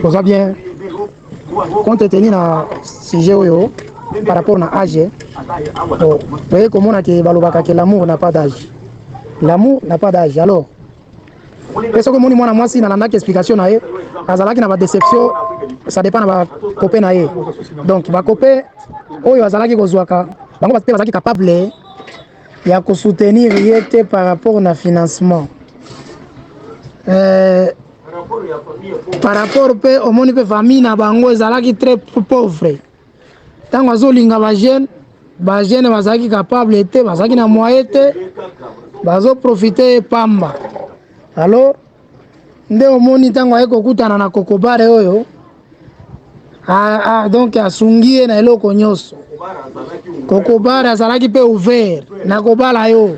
oza bien compte tenu na sujet oyo par rapport na age toye komona ke balobaka ke l'amour na pas d'age l'amour na pas d'age alors mpe soki omoni mwana mwasi nalandaki explication na ye azalaki na badeception ça dépend na bakope na ye donc bakope oyo azalaki kozwaka bango mpe bazalaki capable ya kosoutenir ye te par rapport na financement euh, par rapport mpe omoni mpe famille na bango ezalaki très pauvre ntango azolinga bajeune bajeune bazalaki capable te bazalaki na moye te bazoprofite ye pamba alors nde omoni ntango aye kokutana na kokobare oyo donc asungi ye na eloko nyonso kokobare azalaki mpe ouvert na kobala yo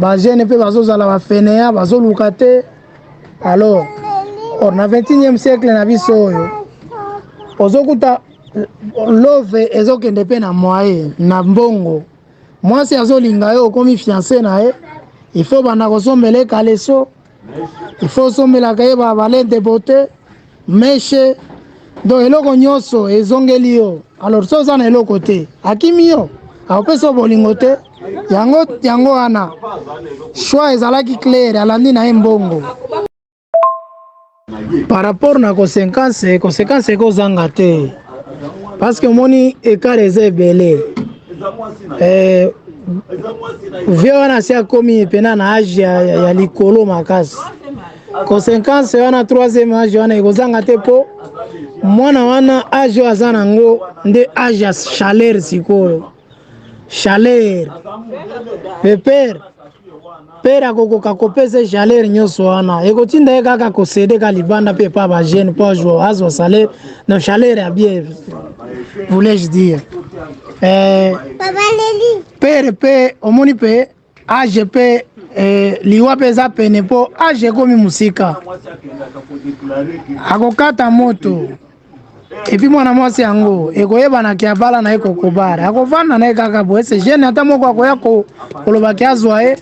bajene mpe bazozala bafeneya bazoluka te alors or na 21e siècle na biso oyo ozokuta love ezokende mpe na moye na mbongo mwasi azolinga yo okomi fiance na ye il faut banda kosombele kaleso il faut osombelaka ye ba valeur de beauté meshe donc eloko nyonso ezongeli yo alors so oza na eloko te akimi yo akopesa yo bolingo te yango yango wana choix ezalaki claire alandi na ye mbongo par rapport na consequence consequence ekozanga te paske omoni ekara eza ebele eh, vie wana asi akomi mpena na age ya, ya, ya likolo makasi consequence wana 3 age wana ekozanga te mpo mwana wana age oyo aza nango nde age ya chaleur sikoyo chaleur pe pere pere akokoka kopesa chaleur nyonso wana ekotinda ye kaka kosede ka libanda mpe epa bajeune mpo azwa azwa salaire na chaleur ya bien voulais-je dire eh, pere mpe omoni mpe age mpe eh, liwa mpe eza pene mpo age ekomi mosika akokata moto epuis mwana mwasi yango ekoyebana ke abala na ye kokobare akovanda na ye kaka boye se jeune ata moko akoya koloba ke azwa ye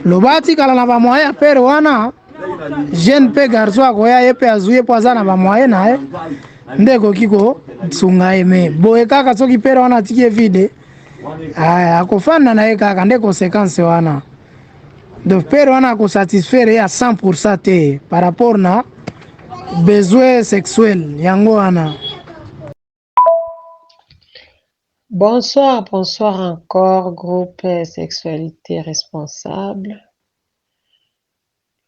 loba atikala na bamoye ya pere wana jeune mpe garçon akoya ye mpe azwi ye mpo aza na bamoye na ye nde ekoki kosunga ye me boye kaka soki pere wana atiki ye vide Aya, ah, akofanda na ye kaka nde conséquence wana donc pere wana akosatisfaire ye à 100 pourcent te par rapport na besoin sexuel yango wana Bonsoir, bonsoir encore groupe sexualité responsable.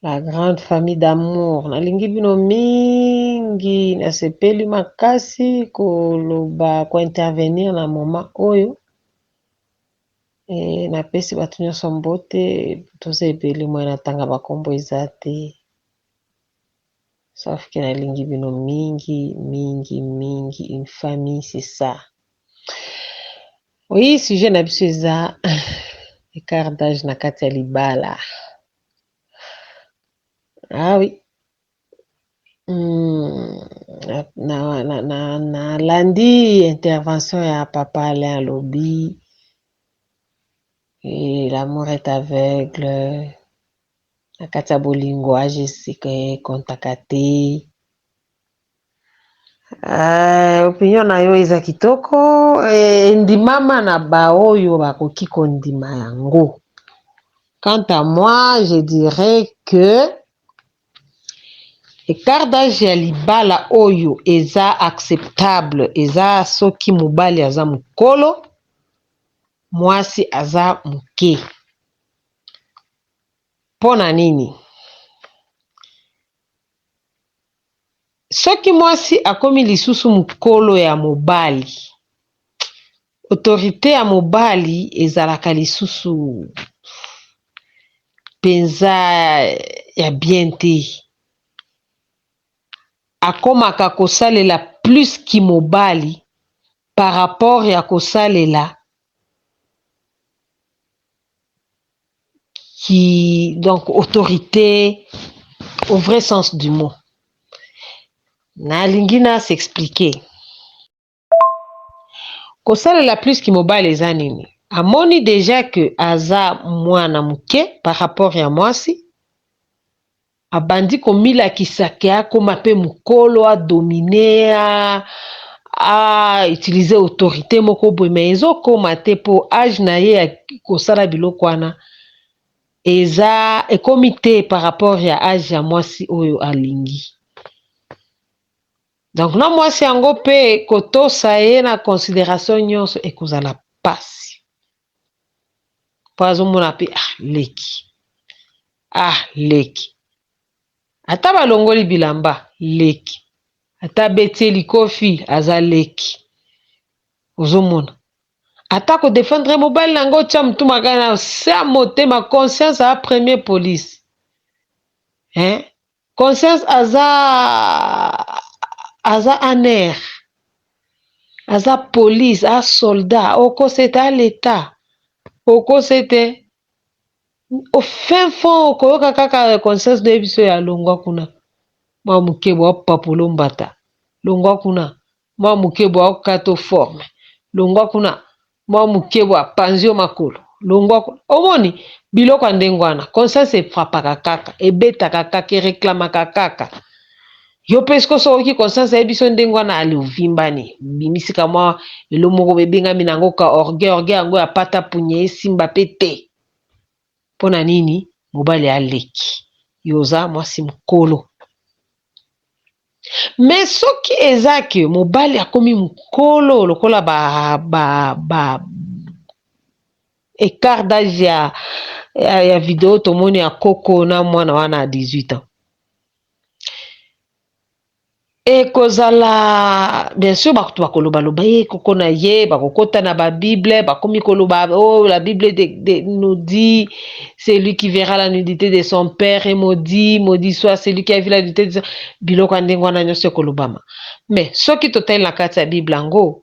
La grande famille d'amour nalingi bino mingi nasepeli makasi koloba kointervenir na moma oyo e, napesi bato nyonso mbote toza ebele moye natanga bakombo eza te Sauf que na lingi bino mingi mingi mingi une famille c'est ça oui sujet na biso eza écart d'âge na kati ya libala ah oui hmm, na, na, na, na, na landi intervention ya papa Alain alobi et l'amour est aveugle na kati ya bolingo ajesika ekontaka te uh, opinion na yo eza kitoko endimama eh, na baoyo bakoki kondima yango quant à moi je dirais que Écart d'âge ya libala oyo eza acceptable eza soki mobali aza mokolo mwasi aza moke. Mpo na nini? Soki mwasi akomi lisusu mokolo ya mobali, autorite ya mobali ezalaka lisusu mpenza ya bien te. Akomaka kosalela plus kimobali par rapport ya kosalela ki donc autorite au vrai sens du mot nalingi na s'expliquer kosalela plus ki mobali eza nini amoni dejà que aza mwana moke par rapport ya mwasi Abandi komilakisa que akoma pe mukolo, a dominer, a a utiliser autorite moko boye mais ezo koma te po age na ye ya kosala biloko wana eza ekomi te par rapport ya age ya mwasi oyo alingi. Donc na mwasi yango pe kotosa ye na consideration nionso ekozala pasi. po azomona pe ah leki ah leki ata balongoli bilamba leki ata abeti ye likofi aza leki ozomona ata ko defendre mobali na yango otya motu makasi na se ya motema conscience a premier police hein Conscience aza aza aner aza police a soldat okosete a leta okosete au fin fond okoyoka kaka conscience noyebiso ya longwa kuna mwa mokebo wa papolo mbata longwa kuna Mwa moke bwa okata o forme. Longwa kuna. Mwa moke bwa panzi o makolo. Longwa kuna. Omoni? Biloko ya ndenge wana. Conscience e frappaka kaka. Ebetaka kaka. E reclamaka kaka. Yo mpe sikoyo soki oyoki conscience ayebi biso ndenge wana, allez ovimbani. Obimisi ka mwa eloko moko boye ebengami na yango ka orgueil. Orgueil yango ya pata punya esimba mpe te. pona nini mobali aleki yo oza mwasi mukolo mais soki eza que mobali akomi mukolo lokola ba ba ba ecart d'age ya ya video tomoni ya koko na mwana wana ya 18 ans Ekozala bien sur bato bakoloba loba ye eh, koko na ye bakokota na ba bible bakomi koloba oh la bible de, de, nous dit celui qui verra la nudité de son père et maudit maudit soit celui qui a vu la nudité de son... biloko ya ndenge wana nyonso ekolobama mais soki totali na kati ya bible yango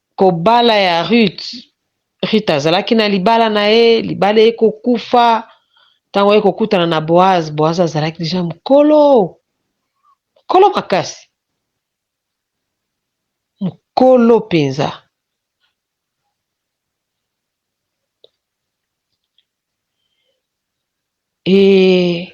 Kobala ya Ruth, Ruth azalaki na libala na ye, libala eye kokufa, ntango aye kokutana na Boaz, Boaz azalaki deja mokolo, mokolo makasi, mokolo mpenza. E,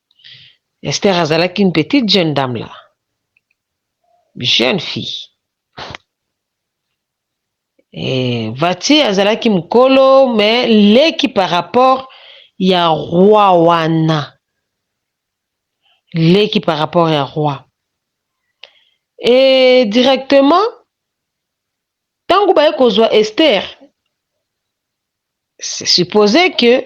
Esther azalaki une petite jeune dame là. Jeune fille. Et Vati azalaki mukolo mais leki par rapport ya roi wana. Leki par rapport ya roi. Et directement tango baye kozwa Esther c'est supposé que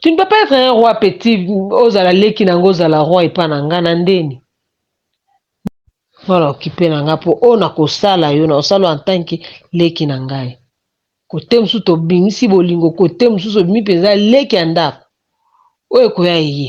Tu ne peux pas être un roi petit ozala leki na nga ozala roi epa na nga na ndeni wana okipe na nga mpo oyo nakosala yo na osala en tant que leki na ngai kote mosusu tobimisi bolingo kote mosusu obimi mpenza leki ya ndako oyo ekoya eye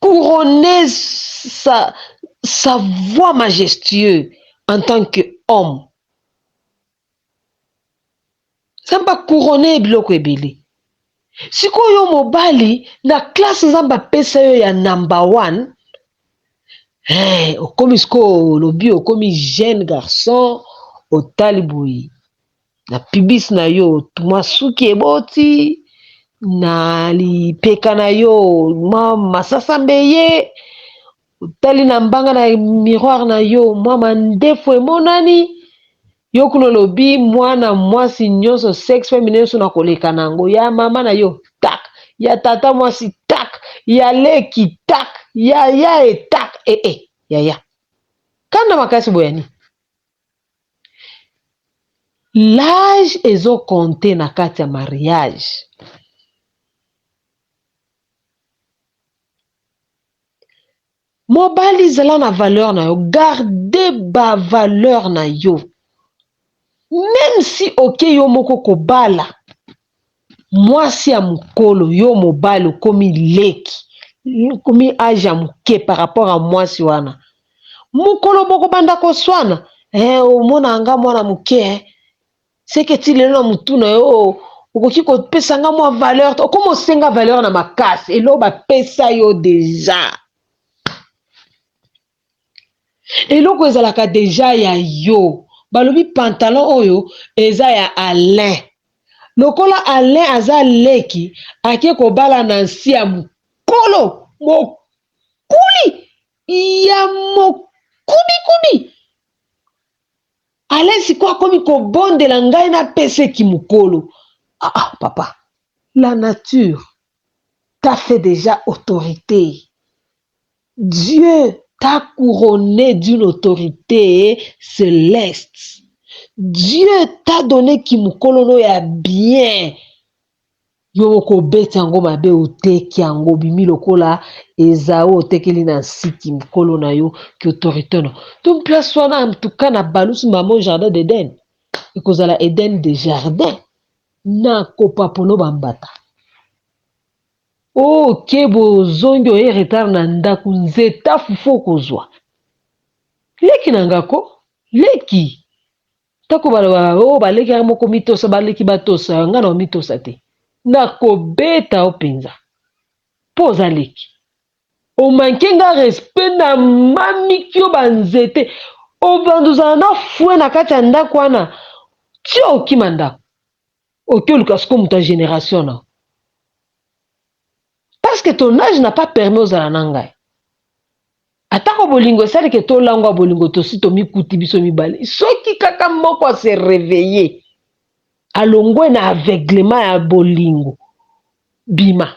couronner sa, sa voix majestueux en tant que homme. Nzambe a couronner ye biloko ebele. Sikoyo yo mobali na classe Nzambe apesa yo ya number one, eh, okomi sikoyo olobi okomi jeune garçon otali boye. na pibis na yo mwa suki eboti na lipeka na yo mwa masasa mbeye otali na mbanga na miroire na yo mwa mandefu emonani yo kuna olobi mwana mwasi nyonso sex femme nyonso na koleka na yango ya mama na yo tak ya tata mwasi tak ya leki tak ya ya etak ee eh, eh, yaya kanda makasi boyani L'age ezo compte na kati ya mariage mobali zala na valeur na yo garde ba valeur na yo meme si oke yo moko kobala Mwasi ya mukolo yo mobali okomi leki okomi age ya muke par rapport ya mwasi wana mukolo bokobanda koswana eh omona nga mwana muke eh seke ti lelo na mutu na yo oh okoki kopesa nga mwa valeur te okomi osenga valeur na makasi eloko bapesa yo deja Eloko ezalaka deja ya yo. Balobi pantalon oyo eza ya Alain. Lokola Alain aza leki ake kobala Nancy ya mukolo mokuli ya mokuli kubi kubi alain sikoyo akomi kobondela ngai napesa eki mokolo ah, ah, papa la nature ta fait déjà autorité Dieu t'a couronne d'une autorite celeste, Dieu t'a donne kimokolo no ya bien, yo okobeti yango mabe oteki yango obimi lokola Ezau otekeli Nancy kimokolo na yo ki autorite no donc place wana en tout cas na balusu maman jardin d'Eden ekozala Eden de jardin na kopapono ba mbata. Oh kebo ozongi oye retard na ndaku nzeta fufu okozwa leki na nga ko leki tako baloba oh ba leki yanga moko mitosa ba leki batosa nga na omitosa te na kobeta yo penza po oza leki o manque nga respect na mamiki yo ba nzete obanda ozala na fue na kati ya ndaku wana ti okima ndaku Oke oluka siko moto ya generation na parce que ton age n'a pas permis ozala na ngai atako bolingo esali ke tolangwa bolingo tosi tomikuti biso mibale soki kaka moko ase reveille alongwe na aveuglement ya bolingo bima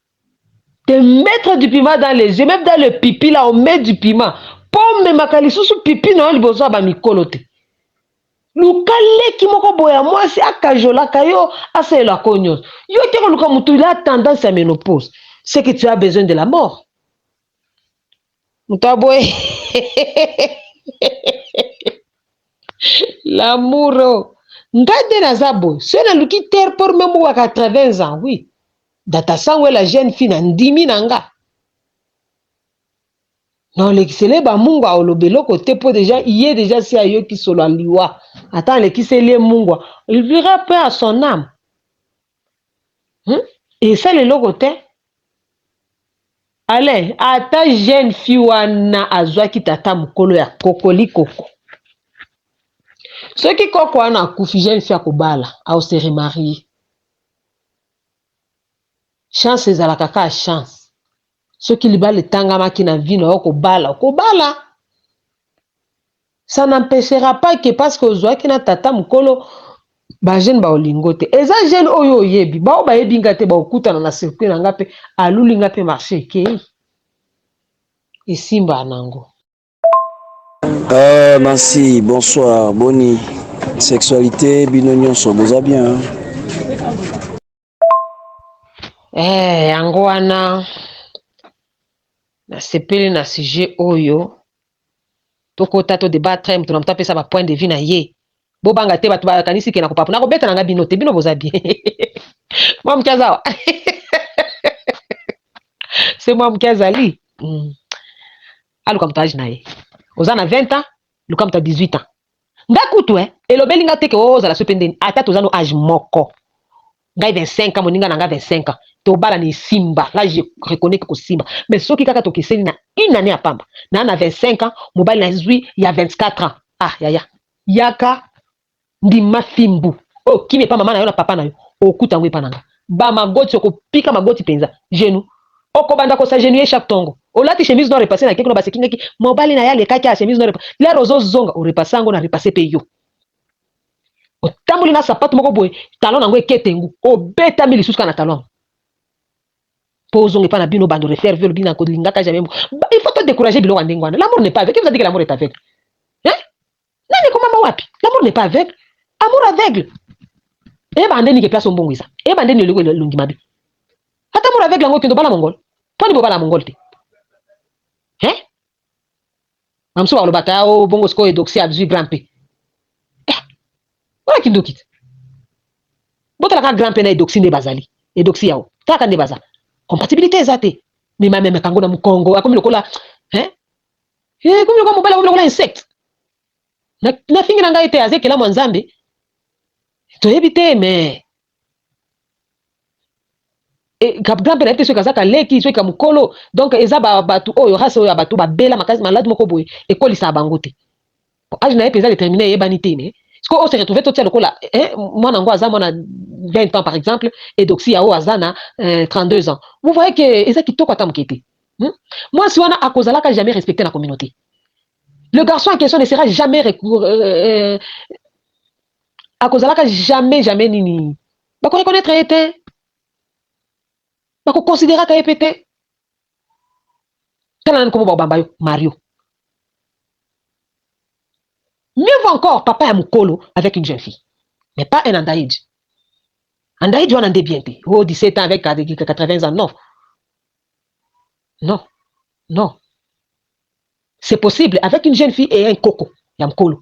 te mettre du piment dans les yeux meme dans le pipi là on met du piment po omemaka lisusu pipi na yo liboso ya bamikolo te luka leki moko boye ya mwasi akajolaka yo asalela ko nyonso yo te koluka motu la tendance ya menopause c'est que tu as besoin de la mort moto ya boye lamouro ngai nde naza boye soki naluki terre por meme waka 80 ans oui Data Sangwela jeune fille na ndimi na nga na olekisele ba mungwa aoloba eloko te po deja iye deja si ayoki solo ya liwa ata alekiseli ye mungwa il vira peu à son âme hmm? esala eloko te Alain ata jeune fille wana azwaki tata mokolo ya kokoli koko soki koko wana akufi jeune fille akobala au se remarier Chance ezalaka kaka chance. Soki libala etangamaki na vie na yo kobala, okobala. Ça n'empechera pas que parce que ozwaki na tata mokolo ba jeune ba olingo te. Eza jeune oyo oyebi, ba oyo bayebi nga te ba okutana na circuit na nga pe aluli nga pe marché ekei. Esimba nango. Euh, Nancy, bonsoir, boni. Sexualité, bino nyonso, boza bien. hein? Eh, yango wana nasepeli na sujet oyo tokota to debattre moto na moto apesa ba point de vue na ye bobanga te bato bakanisi ke nakopapo nakobeta na nga bino te bino boza bien mwa moke azawa se mwa moke azali mm. aluka moto age na ye oza na 20 ans luka moto ya 18 ans nga kutu eh, elobeli nga te ke oh, ozala soki mpe ndeni ata toza no age moko ngai 25 ans moninga na nga 25 ans tobala na esimba nga je reconnais ke kosimba mais soki kaka tokeseni na une année ya pamba na na 25 ans mobali nazwi ya 24 ans ah yaya yaka Ndima fimbu oyo kimia epa mama na yo na papa na yo okuta yango epa na nga ba magoti okopika magoti penza genoux okobanda ko s'agenouiller chaque tongo olati chemise noire repasse na ke kuna ba sekingaki mobali na ye alekaki a chemise noire lere ozo zonga o repasse yango na repasse pe yo otamboli na sapatu moko boye talon na yango eketengu obetami lisusu kaka na talon yango po ozonga epa na bino bando refaire vie olobi na kolingaka jamais il faut to décourager biloko ya ndenge wana l'amour n'est pas aveugle qui vous a dit que l'amour est aveugle hein nani ekomama wapi l'amour n'est pas aveugle amour aveugle eyeba ande nike place ombongwisa eyeba ande nioliko elongi mabe ata amour aveugle yango okende obala mongol poni bobala mongol te hein bamisusu bakolobaka ya o bongo sikoyo edoxi azwi grand pe eh, wana kindoki te botalaka grand pe na edoxi nde bazali edoxi yao kaka nde baza compatibilité eza te mimamemaka yango na mokongo akomi lokola hein He komi lokola mobali akomi lokola insecte. Na, na fingi na ngai te aza ekelamu ya Nzambe. Toyebi te mais e, grand père te soki aza kaleki soki kamukolo donc eza ba batu oyo race oyo ya batu babela makasi malade moko boye ekolisa bango te. Po age na ye penza determine eyebani te mais sikoyo o se retrouver totia lokola eh, mwana yango aza mwana 20 ans par exemple et Doxia oyo aza na eh, 32 ans. Vous voyez que eza kitoko ata moke te. Hmm? Mwasi wana akozalaka jamais respecté na communauté. Le garçon en question ne sera jamais recou- euh, euh, akozalaka jamais jamais nini bakoreconnaitre ye te bakoconsideraka ye mpe te tala nani komo babamba yo mario mieux vaut encore papa ya mukolo avec une jeune fille mais pas un andaige andaige wana nde bien te oh 17 ans avec 80 ans non non non c'est possible avec une jeune fille et un koko ya mukolo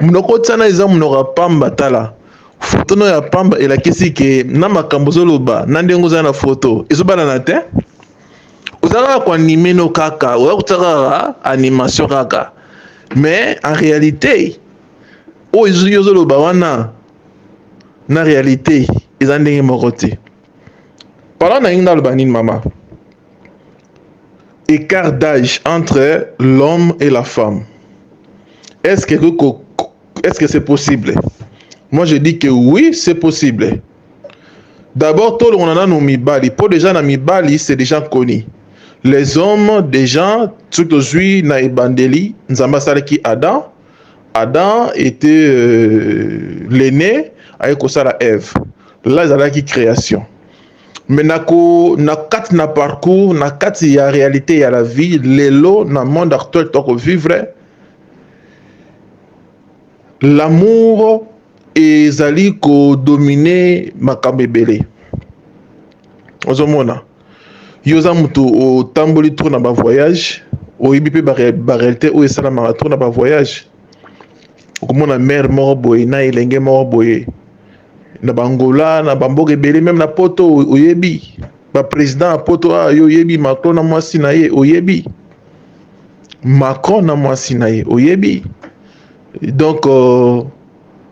Munoko tsana eza munoko ya pamba tala photo no ya pamba elakisi ke na makambo ozoloba na ndenge oza na photo ezobalana te oza kaka ko anime no kaka oza kotsa kaka animation kaka mais en réalité oyo ozoloba wana na réalité eza ndenge moko te Pardon na inda naloba nini mama? Écart d'âge entre l'homme et la femme. Est-ce que est-ce que c'est possible? Moi je dis que oui, c'est possible. D'abord tout le monde a mibali, pour déjà na mibali c'est déjà connu. Les hommes déjà tout aux na ebandeli, nzamba salaki Adam Adam était euh, l'aîné aye kosala Eve la ezalaki création mais nako na kati na parcours na kati ya réalité ya la vie lelo na monde actuel toko vivre l'amour ezali kodomine makambo ebele ozomona Yo oza moto otamboli trop na ba voyage oyebi mpe ba réalité oyo esalamaka trop na ba voyage okomona mare moko boye na elenge moko boye na bangola na bamboka ebele meme na poto oyebi baprésident ya poto a ah, yo oyebi macron na mwasi na ye oyebi macron na mwasi na ye oyebi donc euh,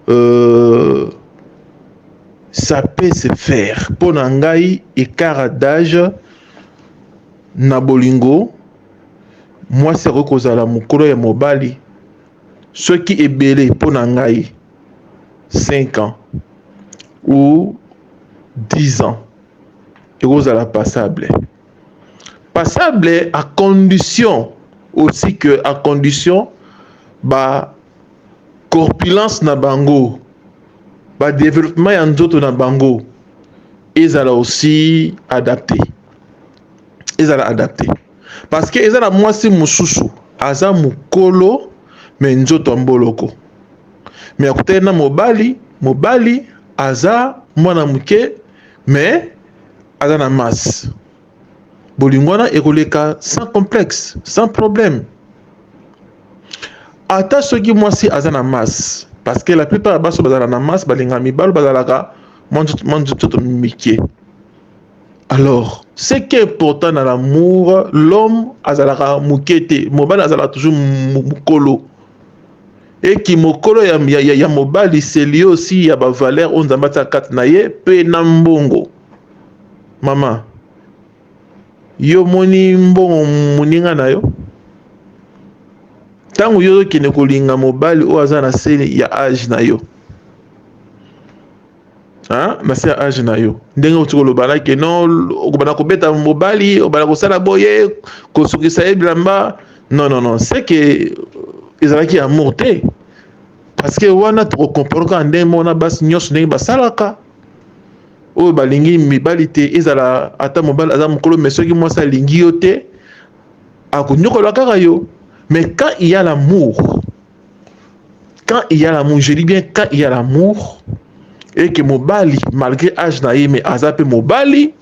euh, ça peut se faire mpo na ngai écart d'âge na bolingo mwasi akoki kozala mokolo ya mobali soki ebele mpo na ngai 5 ans ou 10 ans ekozala passable Passable à condition aussi que à condition ba corpulence na bango ba developpement ya nzoto na bango ezala aussi adapte ezala adapte parce que eza na mwasi mosusu aza mokolo me nzoto ya mboloko me akutani na mobali mobali aza mwana moke me aza na masse bolingo wana ekoleka sans complexe sans problème ata soki mwasi aza na masse parce que la plupart ya baso bazala na masse balinga mibalo bazalaka mwa nzoto mike alors ce qui est important na l'amour l'homme azalaka moke te mobali azalaka toujours mokolo e kimokolo ya, ya, ya, ya mobali selie aussi ya ba valeur oyo nzambe atia kati na ye mpe na mbongo mama yo moni mbongo moninga na yo ntango yo ozokende kolinga mobali oyo aza na se ya age na yo hein na se ya age na yo ndenge oti koloba na ke non okobanda kobeta mobali obanda kosala boye kosukisa ye bilamba non non non c'est que ezalaki amour te parce que wana tokokomprendre kaka ndenge moko na basi nyonso ndenge basalaka oyo balingi mibali te ezala ata mobali aza mokolo me soki mwasi alingi yo te akonyokola kaka yo mais quand il y a l'amour quand il y a l'amour je dis bien quand il y a l'amour et que mobali malgré âge na ye mais aza pe mobali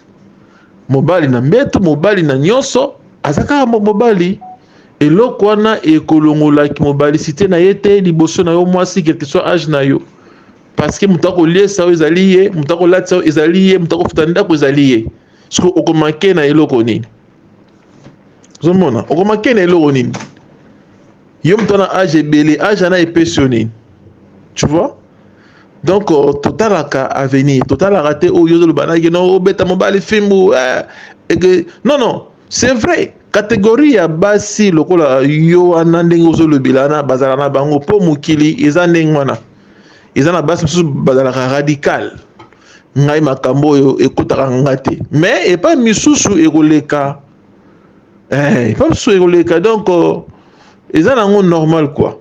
mobali na mbeto mobali na nyonso aza kaka mobali eloko wana ekolongolaki mobalicité na ye te liboso na yo mwasi quelque soit âge na yo parce que moto akoliesa yo ezali ye moto akolatisa yo ezali ye moto akofuta ndako ezali ye soki okomake na eloko nini ozomona okomake na eloko nini yo moto na age ebele age ana epesi yo nini tu vois donc euh, totalaka avenir totalaka te oyo ozoloba naki no obeta mobali fimbu eh, eke non non c'est vrai kategori ya basi lokola yo wana ndenge ozolobela wana bazala na bango mpo mokili eza ndenge wana eza na basi mosusu bazalaka radical ngai makambo oyo ekotaka nga te mais epai misusu ekoleka eh, epa mosusu ekoleka donc euh, eza nango normal quoi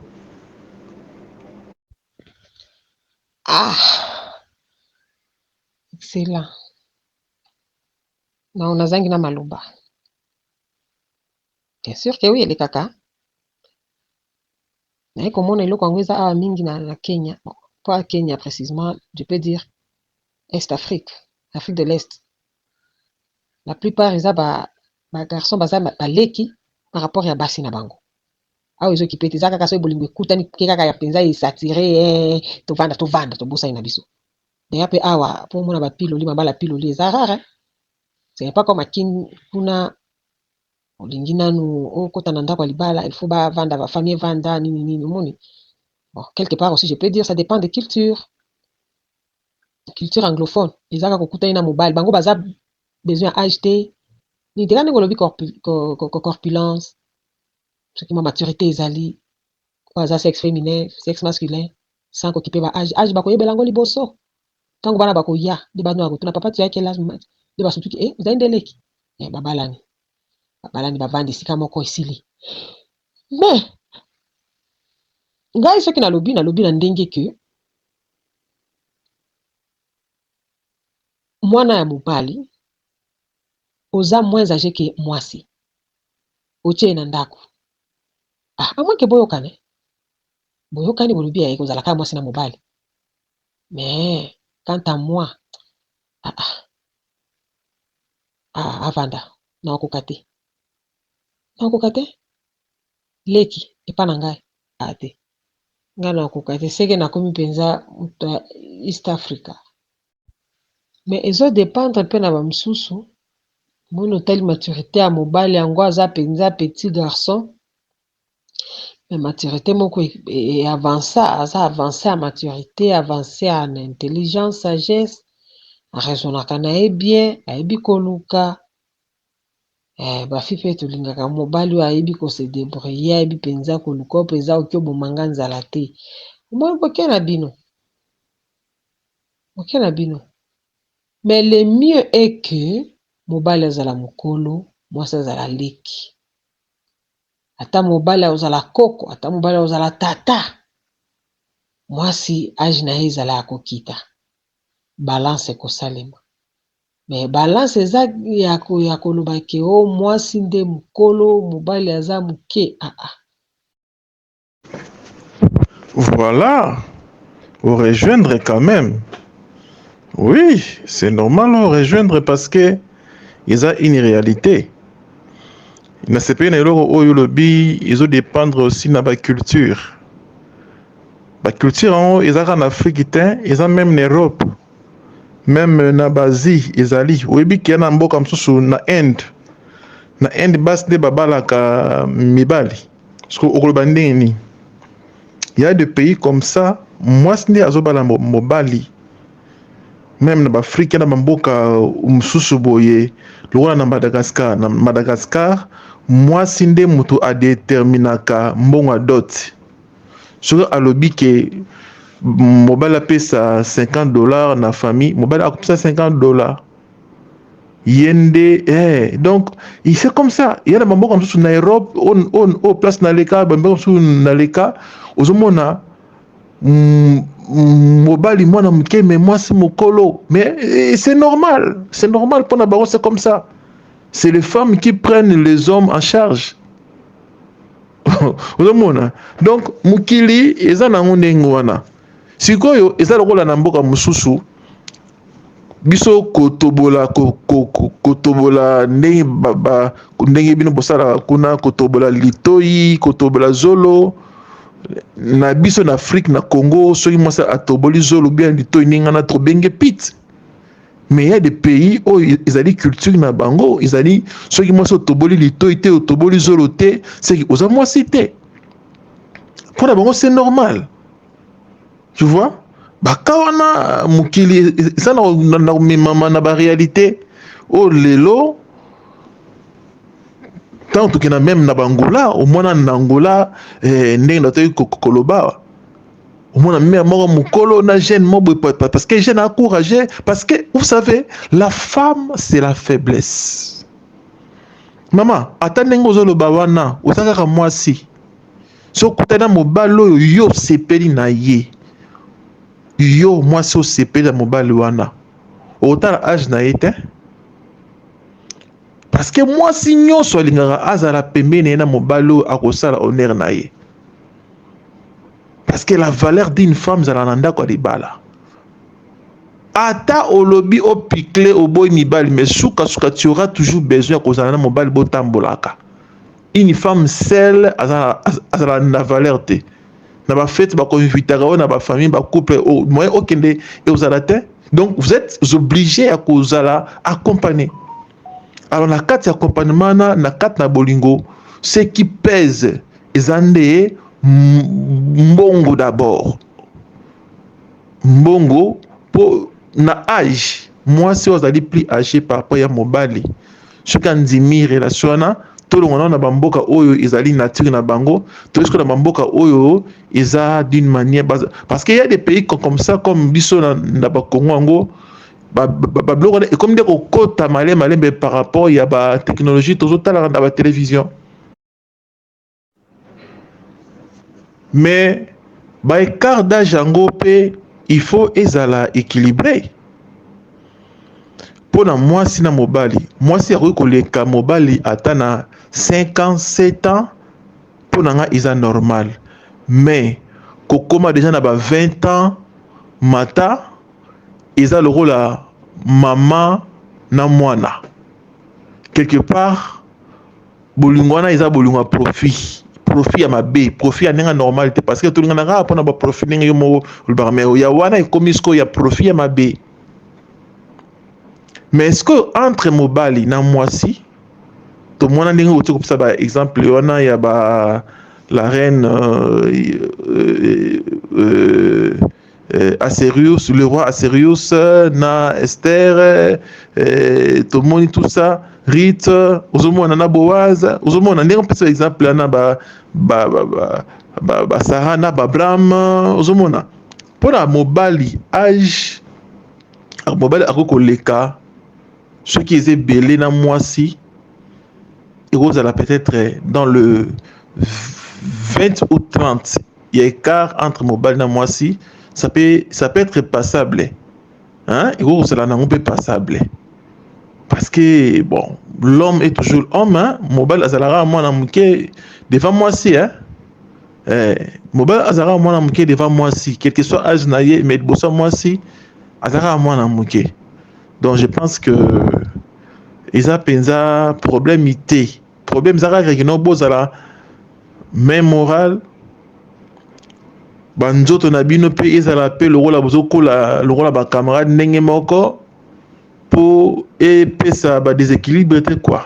ah excellent na nazangi na maloba bien sûr que oui elekaka naye komona eloko yango eza awa mingi na, na kenya bon, pas kenya précisément je peux dire est afrique afrique de l'est la plus part eza ba garçon baza baleki par rapport ya basi na bango awa ezo kipe te eza kaka soki bolingo ekutani ke kaka ya mpenza esatire eh, tovanda tovanda tobosani na biso deya mpe awa mpo omona bapiloli mabala piloli eza rare ce n'est pas comme akin kuna olingi nanu okota na ndako ya libala il faut bavanda bafamille evanda nini nini omoni bon quelque part aussi je peux dire ça dépend de culture culture anglophone eza kaka okutani na mobali bango baza besoin ya age te nini te kaka ndenge olobi corpulence soki ma maturité ezali oyo aza sexe féminin sexe masculin sans kokipe ba age age bakoyebela yango liboso ntango bana bakoya nde bana bakotuna papa tuyaki elage nde basutuki e ozali nde leki babalani babalani bavandi esika moko esili mais ngai soki nalobi nalobi na ndenge ke Mwana ya mobali oza moins age ke mwasi otie ye na ndako ah, a moins ke boyokane boyokani bolobi ya ekozala kaka mwasi na mobali mais quant à moi ah, ah, ah, avanda nakokoka te nakokoka te leki epa na ngai ate ngai na koka te seke nakomi mpenza moto ya east africa me ezo dependre mpe na bamosusu moni otali maturité ya mobali yango aza mpenza petit garçon me maturité moko eavanca aza avance ya maturité avance ya na intelligence sagesse arezonaka na ye bien ayebi koluka Eh ba fille pe tolingaka mobali oyo ayebi ko se debrouiller ayebi penza ko luka oyo penza oke oboma nga nzala te omoni boke na bino boke na bino mais le mieux est que mobali azala mukolo mwasi azala leki ata mobali akozala koko ata mobali akozala tata mwasi age na ye ezala ya kokita balance ekosalema. Mais balance eza ya koloba ke o mwasi nde mukolo mobali aza muke aa. Voila o rejoindre quand meme oui c'est normal o rejoindre parce que eza une realite nasepeli na eloko oyo olobi ezo dependre aussi na ba culture ba culture yango eza kaka na afrique te eza meme na europe. meme na b'Asie ezali oyebi ke na mboka mosusu na Inde na Inde basi nde babalaka mibali soki okoloba ndenge nini ya de pays comme ça mwasi nde azobala mobali meme na baafrika na bamboka mosusu boye lokola na madagascar na madagascar mwasi nde moto adeterminaka mbongo ya dote soki alobi ke mobali apesa 50 dollars na famille mobali akopesa 50 dollars ye nde eh, donc c'est comme ça ya na bamboka mosusu na europe o place na leka bamboka mosusu na leka ozomona mm, mobali mwana moke me mwasi mokolo mais eh, c'est normal c'est normal mpona bango c'est comme ça c'est les femmes qui prennent les hommes en charge ozomona donc mokili eza nango ndenge wana sikoyo eza lokola na mboka mosusu biso kotobola kotobola ndenge ba, ndenge bino bosalaka kuna kotobola litoi kotobola zolo na biso na afrique na congo soki mwasi atoboli zolo bien litoi ndenge wana tobenge pite mais ya de pays oyo ezali culture na bango ezali soki mwasi otoboli litoi te otoboli zolo te seki oza mwasi te mpo na bango c'est normal tu vois baka wana mokili eza na komemama na baréalité oyo lelo ntango tokenda meme na bangola omwana na angola eh, ndenge na toki koloba Mon mère moko mukolo na jeune mobwe parce que jeune a courageux parce que vous savez la femme c'est la faiblesse maman ata ndenge ozoloba wana oza kaka mwasi so okutani na mobali oyo yo osepeli na ye yo mwasi osepeli na mobali wana otala age na ye te parce que mwasi nyonso alingaka azala pembeni na ye na mobali oyo akosala honere na ye parce que la valeur d'une femme zala na ndako ya libala ata olobi opikle oboyi mibali mais sukasuka tu auras toujours besoin ya kozala na mobali botambolaka une femme seule azala na valeur te na bafete bakoinvitaka oyo na bafamille bacouple oh, moyen okende eozala te donc vous êtes obligé ya kozala accompagné alors na kati ya accompagnement na na kati na bolingo ce qui pèse eza nde mbongo d'abord mbongo mpo na age mwasi oyo azali plus age par rapport ya mobali soki andimi relation wana tolongana na bamboka oyo ezali nature na bango toyesiko na bamboka oyo eza d'une manière parce que ya des pays comme ça comme biso na, na bakongo yango babiloko wana ekomi nde kokota malembe malembe par rapport ya batechnologie tozotalaka na batelevision Mais ba ecart d'age yango pe il faut ezala equilibre mpo na mwasi na mobali. Mwasi akoki koleka mobali ata na 5 ans 7 ans, mpo na ngai eza normal, mais kokoma deja na ba 20 ans mata eza lokola mama na mwana quelque part bolingo wana eza bolingo ya profit profit ya mabe profit ya ndenge normal te parce que tolingana kaka mpona baprofit ndenge yo moko olobaka me ya wana ekomi sikoyo ya profit ya mabe mais sikoyo entre mobali na mwasi tomona ndenge oti kopesa ba exemple wana ya ba la reine euh, euh, euh, euh, Aserius, le roi Aserius euh, na Esther, euh, euh tomoni tout ça, Rite, ozomona na Boaz, ozomona ndenge mpesa exemple wana ba ba ba ba, ba, ba Sarah na ba Abraham, ozomona mpo na mobali age mobali akoki koleka soki eza ebele na mwasi ekozala peut-être dans le 20 ou 30 Il y a écart entre mobali na mwasi, ça peut, ça peut être passable. Hein? Et vous, cela n'a pas passable. Parce que, bon, l'homme est toujours homme, hein? Mobile azalara mwana muke devant moi si, hein? Eh, mobile azara mwana muke devant moi si, quel que soit âge na ye, mais bossa moi si, azara mwana muke. Donc je pense que, ils a penza problème ité. Problème eza kaka kino bozala main morale banzoto na bino mpe ezala mpe lokola bozokola lokola bacamarade ndenge moko mpo epesa badesequilibre te kua